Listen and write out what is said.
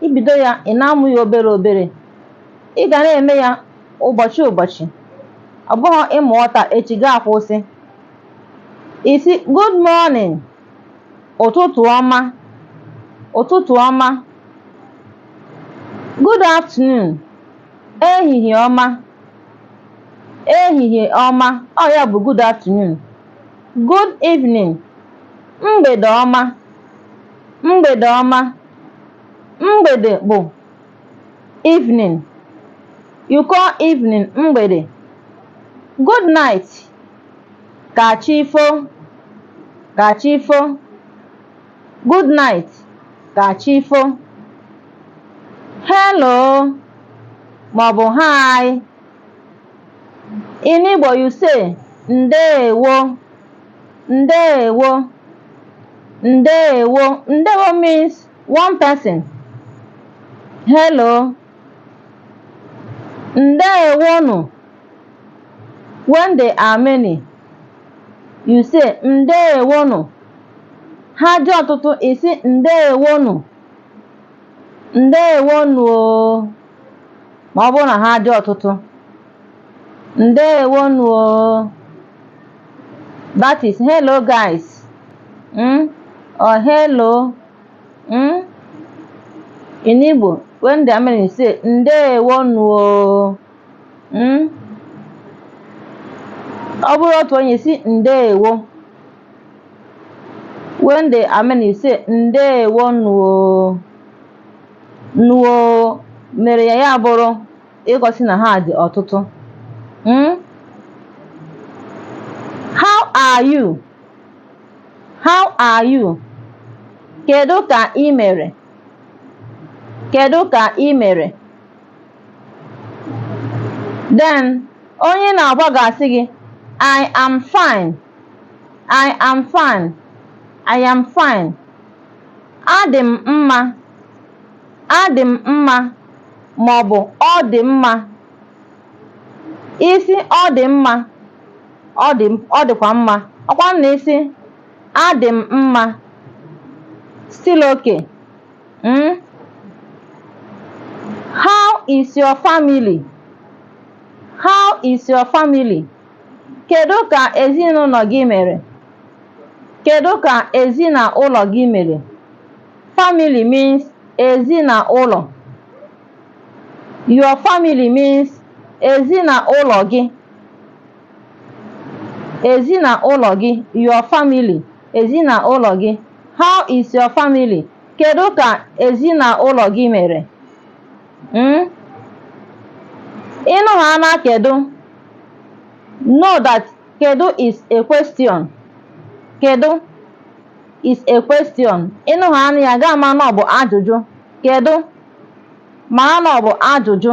i bido ya ị na-amụ ya obere obere ị ga na-eme ya ụbọchị ụbọchị ọ bụghị ị mụọ taa echi gị akwụsị ị sị good morning ụtụtụ ọma ụtụtụ ọma good afternoon ehihie ọma ehihie ọma ọ ya bụ good afternoon good evening mgbede ọma Mgbede ọma. Mgbede bụ evening. You call evening mgbede. Good night. Ka chi fo. Ka chi fo. Good night. Ka chi fo. Hello maọbụ hi. In Igbo you say ndeewo. ndewo ndewo ndewo means one person hello ndewonu when they are many you say ndewonu ha dị ọtụtụ ị sị ndewonu ndewonu o ma ọ bụrụ na ha dị ọtụtụ ndewonu o that is hello guys mm? or hello mm? in Igbo when they are many say ndewonu o mm? ọ bụrụ otu onye sị ndewo when they are many say ndewonu o nuo mere ya ya bụrụ igosi na ha dị ọtụtụ Mm? how are you how are you kedu ka ị mere kedu ka ị mere then onye ị na-agwa ga-asị gị i am fine i am fine i am fine adị m mma Adị m mma maọbụ ọ dị mma. Ị sị ọ dị mma, ọ dị ọ dịkwa mma. Ọ bụkwanụ na ị sị adị m mma, still okay. Mm? How is your family? How is your family? Kedu ka ezinụlọ gị mere? Kedu ka ezinaụlọ gị mere? Family means ezi na ụlọ. Your family means ezi na ụlọ gị. Ezi na ụlọ gị, your family, ezi na ụlọ gị. How is your family? Kedu ka ezi na ụlọ gị mere? Mm? Ị nụhaana kedu, know that kedu is a question. Kedu? is a question. Ị nụhaanụ ya, ị ga-ama na ọ bụ ajụjụ. Kedụ? Mara na ọ bụ ajụjụ.